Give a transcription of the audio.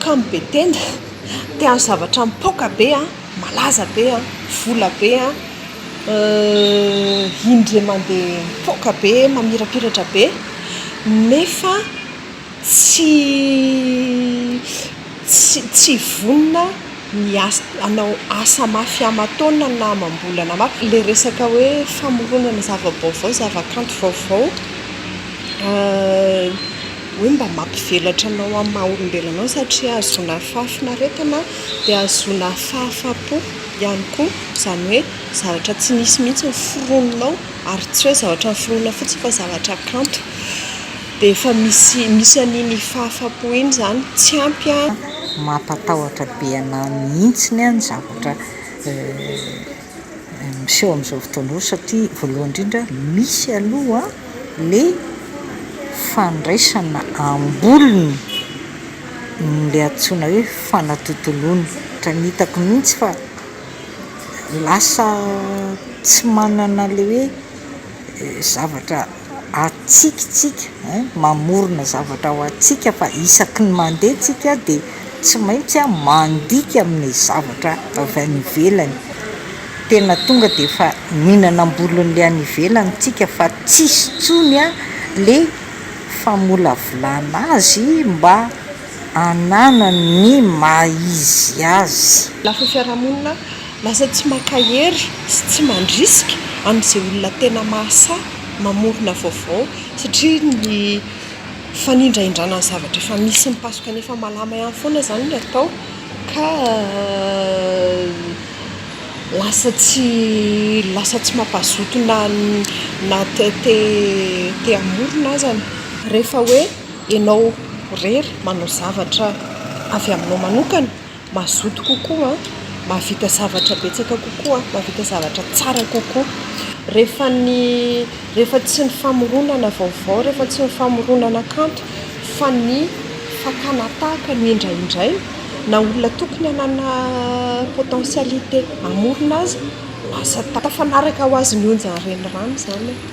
Kamo be tena, te hanao zavatra mipoaka be an, malaza be an, vola be an, indray mandeha mipoaka be, mamirapiratra be nefa tsy tsy tsy vonona ny asa hanao asa mafy aman-taonina na amam-bolana mafy, ilay resaka hoe famoronana zava-baovao, zavakanto vaovao. hoe mba mampivelatra anao amin'ny maha olombelona anao satria ahazoana fahafinaretana dia ahazoana fahafapo ihany koa izany hoe zavatra tsy nisy mihitsy ny foroninao ary tsy hoe zavatra noforonina fotsiny fa zavatra kanto dia efa misy misy an'iny fahafapo iny izany tsy ampy an mampatahotra be anah mihitsy ny zavatra miseho amin'izao fotoana izao satria voalohany indrindra misy aloha le fandraisana am-bolony le antsoina hoe fanatontoloana ohatra ny hitako mihitsy fa lasa tsy manana le hoe zavatra atsika tsika hein mamorona zavatra ho atsika fa isaky ny mandeha tsika de tsy maintsy a mandika amle zavatra avy any ivelany tena tonga de efa mihinana am-bolonle any ivelany tsika fa tsisy tsony a le famolavolana azy mba ananany ny maha izy azy. Lafiny fiarahamonina Lasa tsy maka hery sy tsy mandrisika amin'izay olona tena mahasahy mamorona vaovao satria ny fanindrahindrana ny zavatra efa misy mipasoka ny efa malama ihany foana izany no atao ka lasa tsy lasa tsy mampazoto na na te te hamorona aza ny rehefa hoe ianao irery manao zavatra avy aminao manokana. mazoto kokoa, mahavita zavatra betsaka kokoa, mahavita zavatra tsara kokoa. Rehefa ny, rehefa tsy ny famoronana vaovao, rehefa tsy ny famoronana kanto fa ny fakana tahaka no indraindraina, na olona tokony hanana potentialité hamorona aza, lasa tafanaraka ho azy ny onjan'ny renirano izany e!